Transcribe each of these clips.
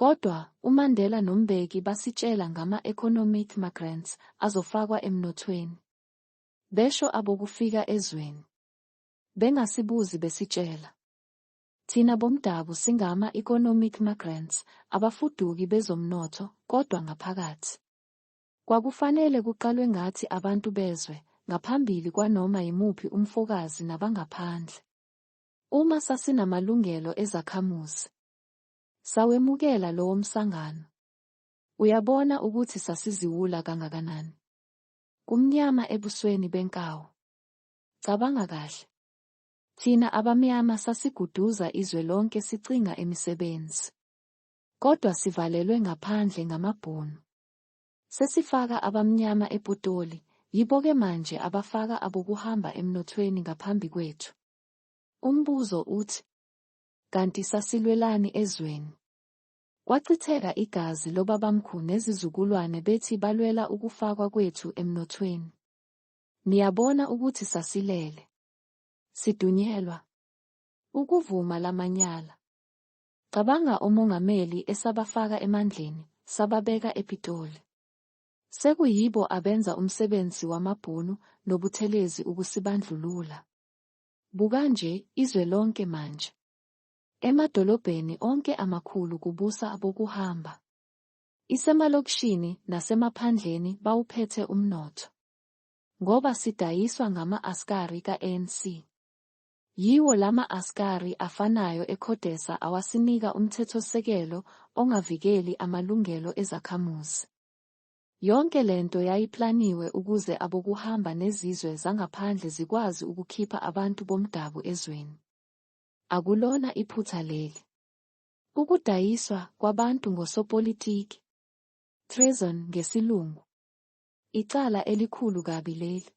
Kodwa, uMandela noMbeki basitshela ngama-economic magrants azofakwa emnothweni. Besho abokufika ezweni. Bengasibuzi besitshela. Thina bomdabu singama-economic magrants, abafuduki bezomnotho, kodwa ngaphakathi. Kwakufanele kuqalwe ngathi abantu bezwe, ngaphambili kwanoma yimuphi umfokazi nabangaphandle. Uma sasinamalungelo ezakhamuzi. Sawemukela lowomsangano. Uyabona ukuthi sasiziwula kangakanani. Kumnyama ebusweni benkawu. Cabanga kahle. Thina abamyama sasiguduza izwe lonke sicinga imisebenzi. Kodwa sivalelwe ngaphandle ngamabhunu. Sesifaka abamnyama epotoli, yibo-ke manje abafaka abokuhamba emnothweni ngaphambi kwethu. Umbuzo uthi, Kanti sasilwelani ezweni? Kwachitheka igazi lobabamkhu nezizukulwane bethi balwela ukufakwa kwethu emnothweni. Niyabona ukuthi sasilele. Sidunyelwa. Ukuvuma lamanyala. Cabanga omongameli esabafaka emandleni, sababeka ePitoli. Sekuyibo abenza umsebenzi wamabhunu noButhelezi ukusibandlulula. Buka nje, izwe lonke manje. Emadolobheni onke amakhulu kubusa abokuhamba. Isemalokishini nasemaphandleni bawuphethe umnotho. Ngoba sidayiswa ngama-askari ka-ANC. Yiwo lama askari afanayo eCodesa awasinika umthethosisekelo ongavikeli amalungelo ezakhamuzi. Yonke le nto yayiplaniwe ukuze abokuhamba nezizwe zangaphandle zikwazi ukukhipha abantu bomdabu ezweni. Akulona iphutha leli. Ukudayiswa kwabantu ngosopolitiki. Treason ngesilungu. Icala elikhulu kabi leli.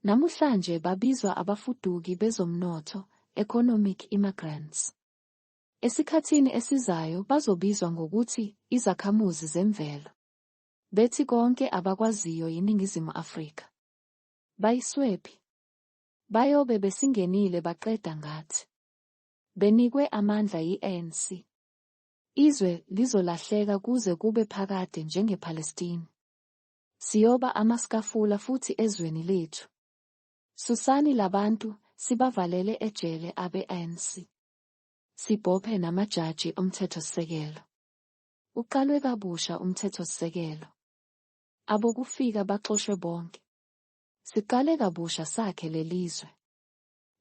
Namuhlanje babizwa abafuduki bezomnotho, economic immigrants. Esikhathini esizayo bazobizwa ngokuthi izakhamuzi zemvelo. Bethi konke abakwaziyo yiNingizimu Afrika. Bayiswephi? Bayobe besingenile baqeda ngathi. Benikwe amandla yi-ANC. Izwe lizolahleka kuze kube phakade njengePalestine. Siyoba amaskafula futhi ezweni lethu. Susani labantu, sibavalele ejele abe-ANC. Sibophe namajaji omthethosisekelo. Uqalwe kabusha umthethosisekelo. Abokufika baxoshwe bonke. Siqale kabusha sakhe lelizwe.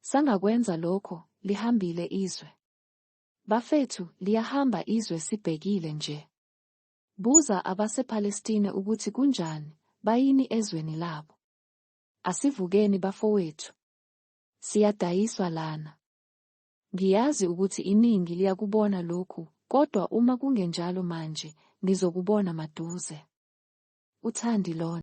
Sangakwenza lokho, lihambile izwe. Bafethu, liyahamba izwe sibhekile nje. Buza abasePalestine ukuthi kunjani, bayini ezweni labo. Asivukeni bafowethu. Siyadayiswa lana. Ngiyazi ukuthi iningi liyakubona lokhu, kodwa uma kungenjalo manje, nizokubona maduze. UThandilon.